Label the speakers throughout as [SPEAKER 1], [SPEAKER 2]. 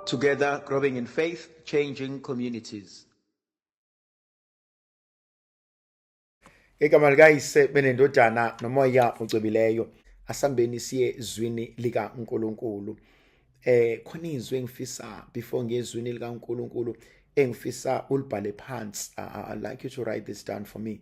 [SPEAKER 1] Together growing in faith, changing communities.
[SPEAKER 2] Igama likayise benendodana nomoya ocwebileyo asambeni siye zwini lika uNkulunkulu eh khona izwi engifisa before ngezwini lika uNkulunkulu engifisa ulibhale phansi I, I like you to write this down for me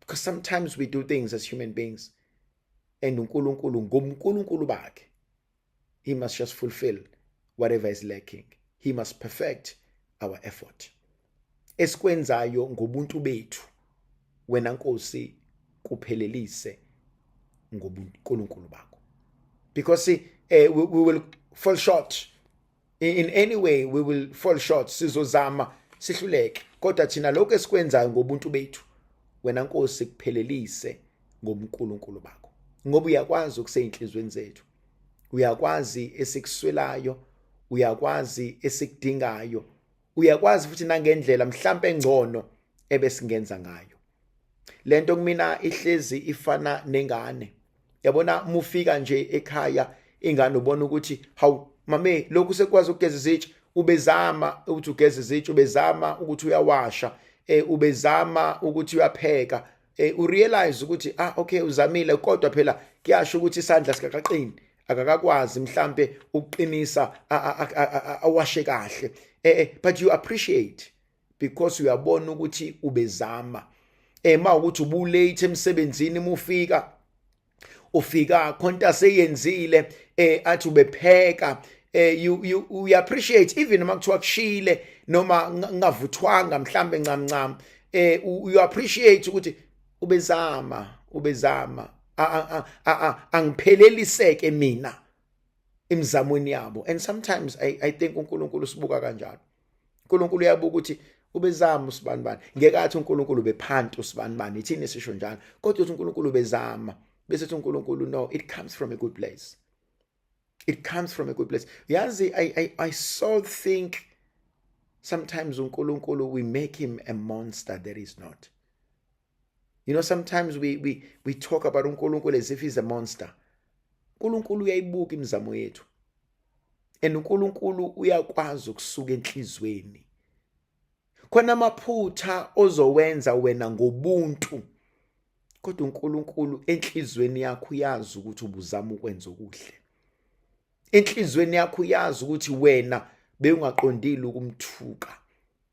[SPEAKER 2] because sometimes we do things as human beings and uNkulunkulu ngomNkulunkulu bakhe he must just fulfill whatever is lacking he must perfect our effort esikwenzayo ngobuntu bethu wena Nkosi kuphelelise ngobuNkulunkulu bakho because eh, we, we will fall short in any way we will fall short sizozama sihluleke kodwa thina lokho esikwenzayo ngobuntu bethu wena nkosi kuphelelise ngoMkulunkulu bakho ngoba uyakwazi ukuseyinhlizweni zethu uyakwazi esikuswelayo uyakwazi esikudingayo uyakwazi futhi nangendlela mhlambe engcono ebesingenza ngayo lento kumina ihlezi ifana nengane yabona mufika nje ekhaya ingane ubona ukuthi hawu mame lokhu sekwazi ukugeza izitsha ubezama ukuthi ugeza izitsha ubezama ukuthi uyawasha eh ubezama ukuthi uyapheka eh urealize ukuthi ah okay uzamile kodwa phela kuyasho ukuthi isandla sikaqaqini akakakwazi mhlambe ukuqinisa awashe kahle eh, eh but you appreciate because uyabona ukuthi ubezama ema ukuthi ubulate emsebenzini mufika ufika khonta seyenzile eh athi ubepheka eh you you we appreciate even uma kuthiwa kushile noma ngavuthwanga mhlambe ncam ncam eh you appreciate ukuthi ubezama ubezama angipheleliseke mina imizamweni yabo and sometimes i i think uNkulunkulu sibuka kanjalo uNkulunkulu uyabuka ukuthi ubezama usibani bani ngeke athi uNkulunkulu bephanti usibani bani ithini sisho njalo kodwa uthi uNkulunkulu bezama bese uthi uNkulunkulu no it comes from a good place it comes from a good place yazi i i i so think sometimes uNkulunkulu we make him a monster that is not You know, sometimes we, we, we talk about uNkulunkulu as if he's a monster. uNkulunkulu uyayibuka imizamo yethu. And uNkulunkulu uyakwazi ukusuka enhlizweni. Khona amaphutha ozowenza wena ngobuntu. Kodwa uNkulunkulu enhlizweni yakho uyazi ukuthi ubuzama ukwenza okuhle. Enhlizweni yakho uyazi ukuthi wena bewungaqondile ukumthuka.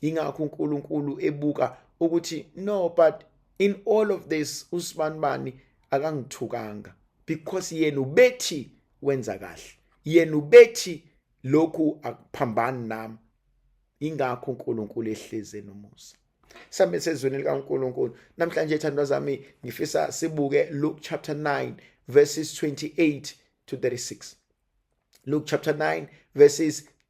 [SPEAKER 2] ingakho uNkulunkulu ebuka ukuthi no but in all of this usibanibani akangithukanga because yena ubethi wenza kahle yena ubethi lokhu akuphambani nami ingakho uNkulunkulu ehleze nomusa sambe sezweni likaNkulunkulu namhlanje ethandwa zami ngifisa sibuke Luke chapter 9 verses 28 to 36 Luke chapter 9 verses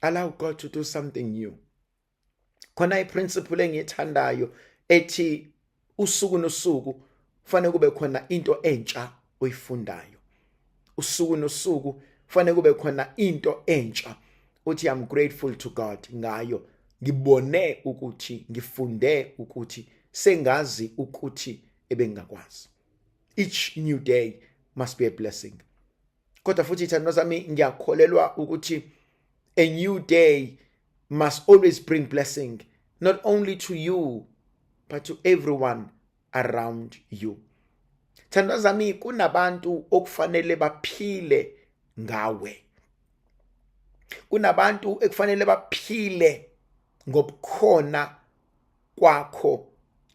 [SPEAKER 2] allow god to do something new khona iprinciple engiyithandayo ethi usuku nosuku kufanele kube khona into entsha oyifundayo usuku nosuku kufanele kube khona into entsha uthi i'm grateful to god ngayo ngibone ukuthi ngifunde ukuthi sengazi ukuthi ebengingakwazi each new day must be a blessing kodwa futhi ithandwa sami ngiyakholelwa ukuthi a new day must always bring blessing not only to you but to everyone around you thandwa zami kunabantu okufanele baphile ngawe kunabantu ekufanele baphile ngobukhona kwakho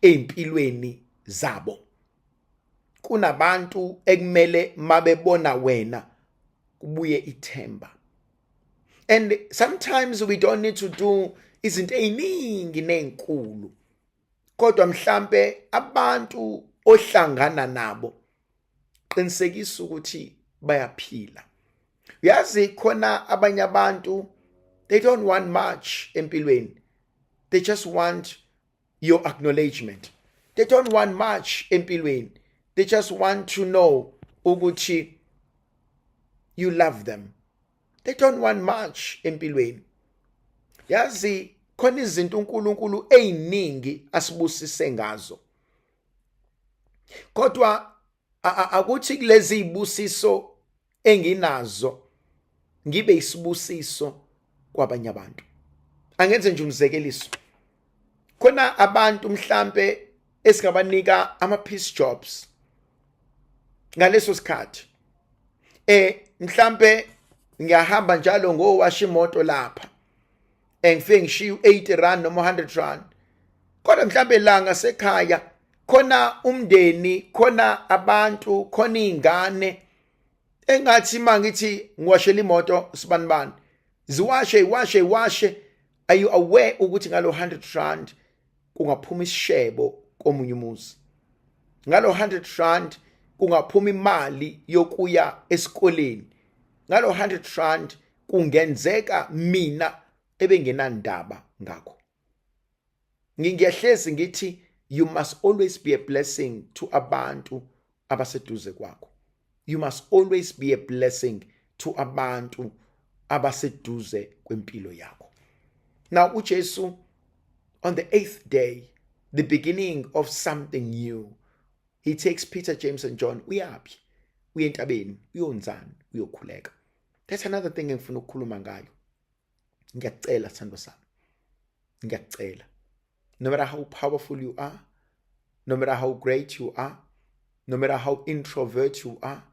[SPEAKER 2] empilweni zabo kunabantu ekumele mabebona wena kubuye ithemba and sometimes we don't need to do izinto eziningi nezinkulu kodwa mhlambe abantu ohlangana nabo qinisekisa ukuthi bayaphila uyazi khona abanye abantu they don't want much empilweni they just want your acknowledgement they don't want much empilweni they just want to know ukuthi you love them they don't want much empilweni yazi khona izinto uNkulunkulu eziningi asibusise ngazo kodwa akuthi kulezi ibusiso enginazo ngibe isibusiso kwabanye abantu angenze nje umzekeliso khona abantu mhlambe esingabanika ama piece jobs ngaleso sikhathi eh mhlambe ngiyahamba njalo ngowashi imoto lapha engifike ngishiye u80 rand noma 100 rand kodwa mhlambe langa sekhaya khona umndeni khona abantu khona izingane engathi mangithi ngiwashela imoto sibanibani ziwashe iwashe iwashe are you aware ukuthi ngalo 100 rand kungaphuma isishebo komunye umuzi ngalo 100 rand kungaphuma imali yokuya esikoleni ngalo 100 rand kungenzeka mina ebengenandaba ngakho ngingiyahlezi ngithi you must always be a blessing to abantu abaseduze kwakho you must always be a blessing to abantu abaseduze kwempilo yakho now uJesu on the 8th day the beginning of something new he takes Peter James and John uyaphi uyentabeni uyonzani uyokhuleka That's another thing engifuna ukukhuluma ngayo. Ngiyakucela sithando sami. Ngiyakucela. No matter how powerful you are, no matter how great you are, no matter how introvert you are,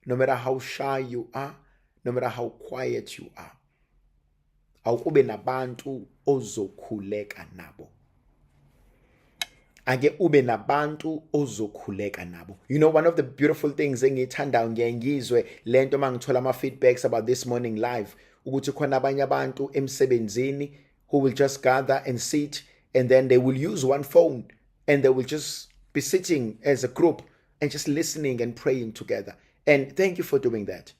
[SPEAKER 2] no matter how shy you are, no matter how quiet you are. awukube nabantu ozokhuleka nabo ake ube nabantu ozokhuleka nabo you know one of the beautiful things engiyithandayo ngiye ngizwe lento mangithola ama feedbacks about this morning live ukuthi khona abanye abantu emsebenzini who will just gather and sit and then they will use one phone and they will just be sitting as a group and just listening and praying together and thank you for doing that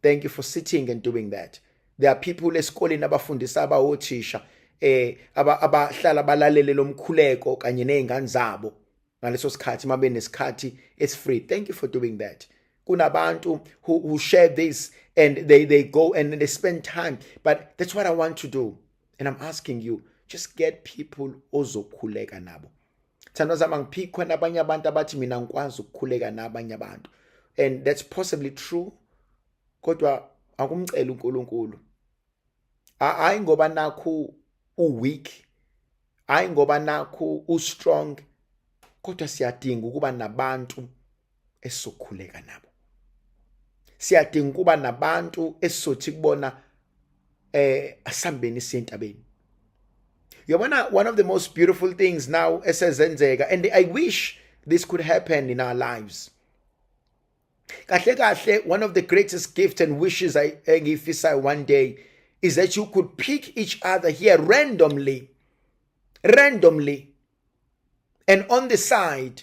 [SPEAKER 2] thank you for sitting and doing that there are people esikoleni abafundisa abawothisha eh abahlala balalele lomkhuleko kanye nezingane zabo ngaleso sikhathi mabe nesikhathi it's free thank you for doing that kunabantu who, who share this and they, they go and they spend time but that's what i want to do and i'm asking you just get people ozokhuleka nabo Thando zama ngiphikwe nabanye abantu abathi mina ngikwazi ukukhuleka nabanye abantu and that's possibly true kodwa akumcela uNkulunkulu hayi ngoba nakhu u weak hayi ngoba nakhu u strong kodwa siyadinga ukuba nabantu esokhuleka nabo siyadinga ukuba nabantu esizothi kubona eh asambeni siyentabeni yabona one of the most beautiful things now esezenzeka and i wish this could happen in our lives kahle kahle one of the greatest gifts and wishes i engiyifisayo one day is that you could pick each other here randomly randomly and on the side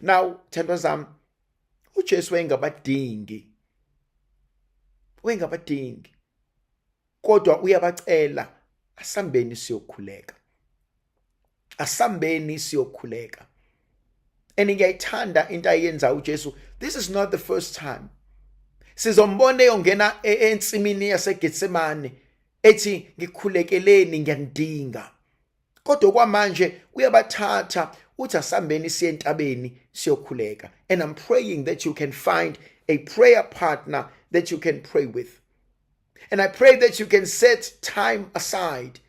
[SPEAKER 2] now thandwa zami uJesu wayengabadingi wayengabadingi kodwa uyabacela asambeni siyokhuleka asambeni siyokhuleka and ngiyayithanda into ayenza uJesu this is not the first time sizombona eyongena e, ensimini yaseGetsemane ethi ngikhulekeleni ngiyandinga kodwa okwamanje uyabathatha uthi asambeni siye entabeni siyokhuleka and i'm praying that you can find a prayer partner that you can pray with and i pray that you can set time aside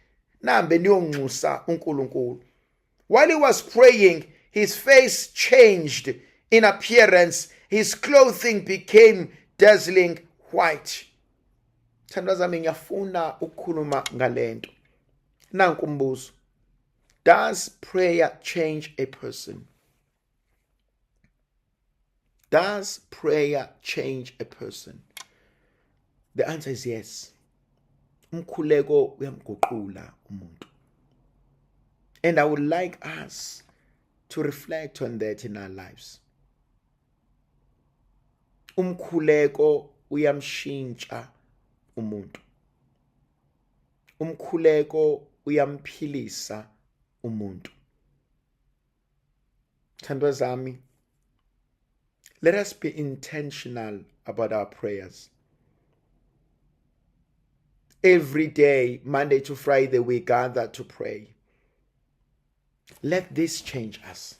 [SPEAKER 2] nambe niyonxusa uNkulunkulu while he was praying his face changed in appearance his clothing became dazzling white thandwa zami ngiyafuna ukukhuluma ngalento nanku umbuzo does prayer change a person does prayer change a person the answer is yes umkhuleko uyamguqula umuntu and i would like us to reflect on that in our lives umkhuleko uyamshintsha umuntu umkhuleko uyamphilisa umuntu thandwa zami let us be intentional about our prayers every day monday to friday we gather to pray let this change us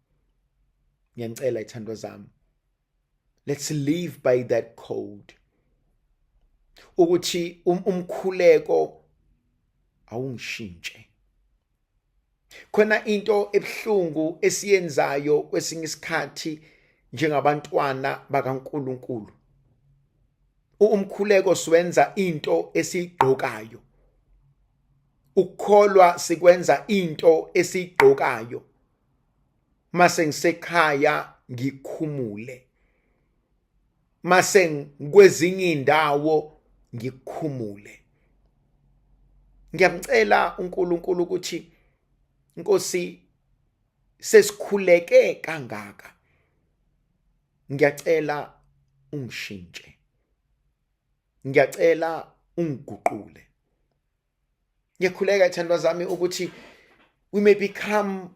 [SPEAKER 2] ngiyanicela ithando zami let's live by that code ukuthi um, umkhuleko awungishintshe khona into ebuhlungu esiyenzayo kwesinye isikhathi njengabantwana bakaNkuluNkulu umkhuleko siwenza into esiyigqokayo ukukholwa sikwenza into esiyigqokayo mase ngisekhaya ngikhumule mase ngikwezinye indawo ngikhumule ngiyamcela uNkulunkulu ukuthi Nkosi sesikhuleke kangaka ngiyacela ungishintshe ngiyacela ungiguqule ngiyakhuleka ithandwa zami ukuthi we may become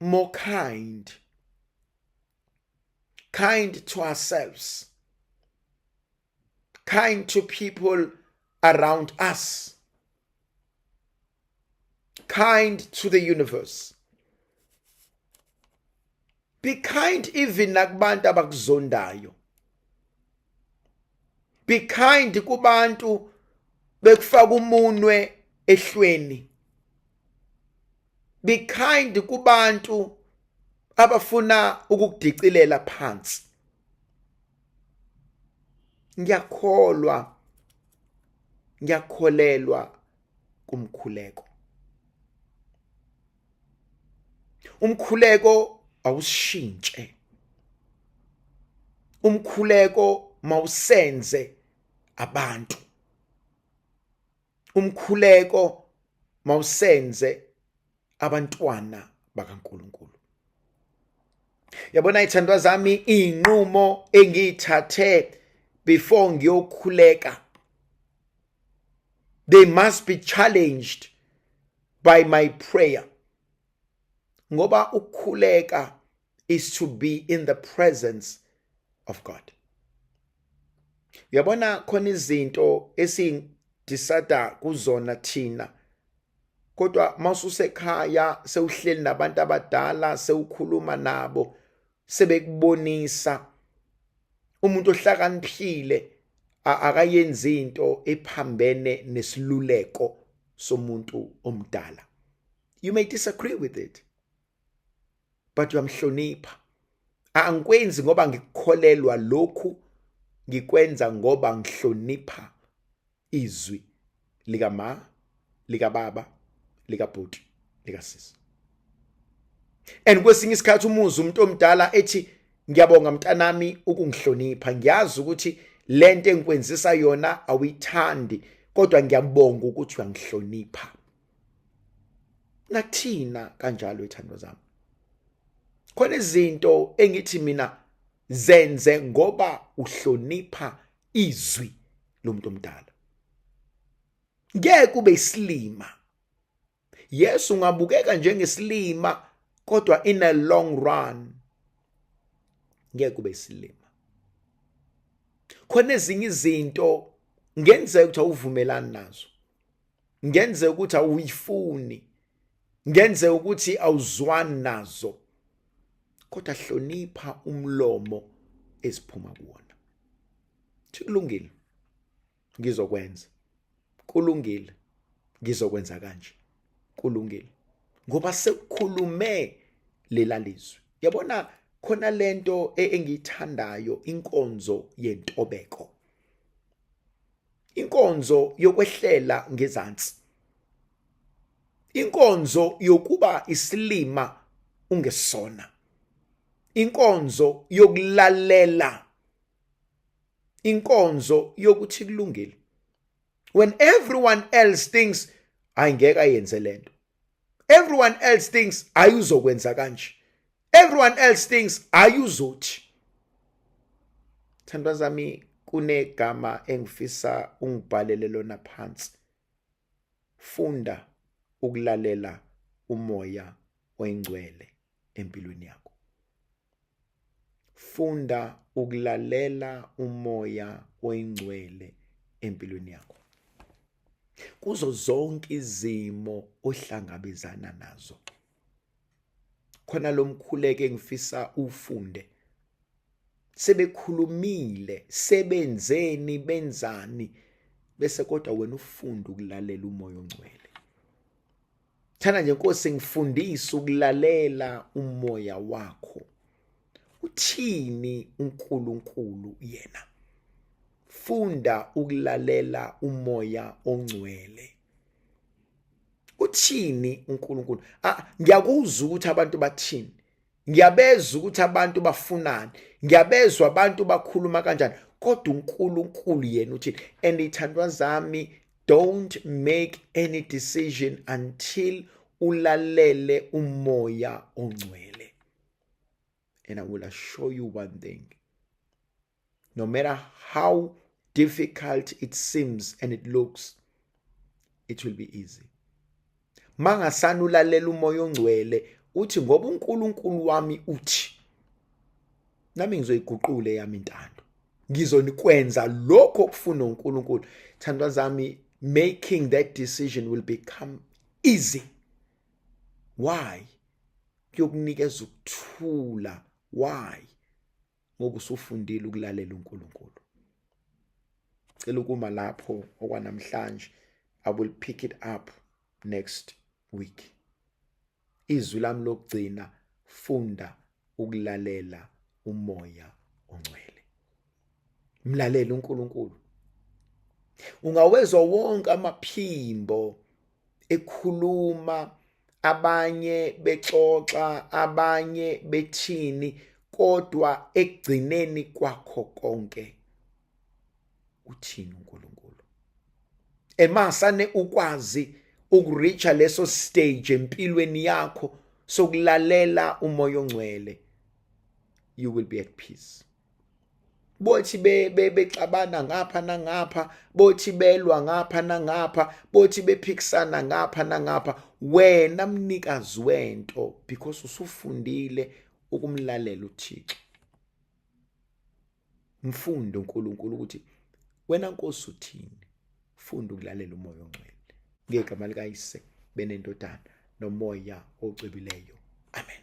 [SPEAKER 2] more kind kind to ourselves kind to people around us kind to the universe be kind even nakubantu abakuzondayo be kind kubantu bekufaka umunwe ehlweni be kind kubantu abafuna ukukudicilela phansi ngiyakholwa ngiyakholelwa kumkhuleko umkhuleko awushintshe umkhuleko mawusenze abantu umkhuleko mawusenze abantwana bakaNkuluNkulu yabona ithandwa zami inqumo engiyithathe before ngiyokhuleka they must be challenged by my prayer ngoba ukukhuleka is to be in the presence of God uyabona khona izinto esindisada kuzona thina kodwa masusekhaya sewuhleli nabantu abadala sewukhuluma nabo sebekubonisa umuntu ohlakaniphile akayenzi into ephambene nesiluleko somuntu omdala you may disagree with it but uyamhlonipha angikwenzi ngoba ngikukholelwa lokhu ngikwenza ngoba ngihlonipha izwi lika ma lika baba lika bhuti lika sisi and kwesinye isikhathi umuzi umuntu omdala ethi ngiyabonga mntanami ukungihlonipha ngiyazi ukuthi lento engikwenzisa yona awuyithandi kodwa ngiyabonga ukuthi uyangihlonipha nathina kanjalo ithando zami khona izinto engithi mina zenze ngoba uhlonipha izwi lomuntu omdala ngeke kube isilima yes ungabukeka njengesilima kodwa in a long run ngeke kube isilima khona ezinye izinto ngenzeka ukuthi awuvumelani nazo ngenze ukuthi awuyifuni ngenze ukuthi awuzwani nazo kodwa hlonipha umlomo esiphuma kuwona kulungile ngizokwenza kulungile ngizokwenza kanje kulungile ngoba sekukhulume lelalizwe yabona khona lento e-, engiyithandayo inkonzo yentobeko inkonzo yokwehlela ngezansi inkonzo yokuba isilima ungesona inkonzo yokulalela inkonzo yokuthi kulungile when everyone else thinks ayingeke ayenze lento everyone else thinks ayuzokwenza kanje everyone else thinks hayi uzothi thandwa zami kunegama engifisa ungibhalele lona phansi funda ukulalela umoya oyingcwele empilweni yakho funda ukulalela umoya oyingcwele empilweni yakho kuzo zonke izimo ohlangabezana nazo khona lomkhuleke ngifisa ufunde sebekhulumile sebenzeni benzani bese kodwa wena ufunde ukulalela umoya ongcwele thana nje nkosi ngifundise ukulalela umoya wakho uthini uNkulunkulu yena funda ukulalela umoya ongcwele uthini uNkulunkulu ah, ngiyakuzwa ukuthi abantu bathini ngiyabezwa ukuthi abantu bafunani ngiyabezwa abantu bakhuluma kanjani kodwa uNkulunkulu yena uthini and ithandwa zami don't make any decision until ulalele umoya ongcwele and i will assure you one thing no matter how difficult it seems and it looks it will be easy mangasana ulalela umoya ongcwele uthi ngoba uNkulunkulu wami uthi nami ngizoyiguqula eyami intando ngizonikwenza lokho okufuna uNkulunkulu thandwa zami making that decision will become easy why kuyokunikeza ukuthula why ngoba usufundile ukulalela uNkulunkulu cela ukuma lapho okwanamhlanje i will pick it up next week izwi lami lokugcina funda ukulalela umoya ongcwele mlalele uNkulunkulu ungawezwa wonke amaphimbo ekhuluma abanye bexoxa abanye bethini kodwa ekugcineni kwakho konke uthini uNkulunkulu emasane ukwazi ukureacha leso stage empilweni yakho sokulalela umoya ongcwele you will be at peace bothi bexabana ngapha nangapha bothi belwa ngapha nangapha bothi bephikisana ngapha nangapha wena mnikazi wento because usufundile ukumlalela uThixo mfunde uNkulunkulu ukuthi wena nkosi uthini funda ukulalela umoya ongcwele ngegama likayise benendodana nomoya ocwebileyo amen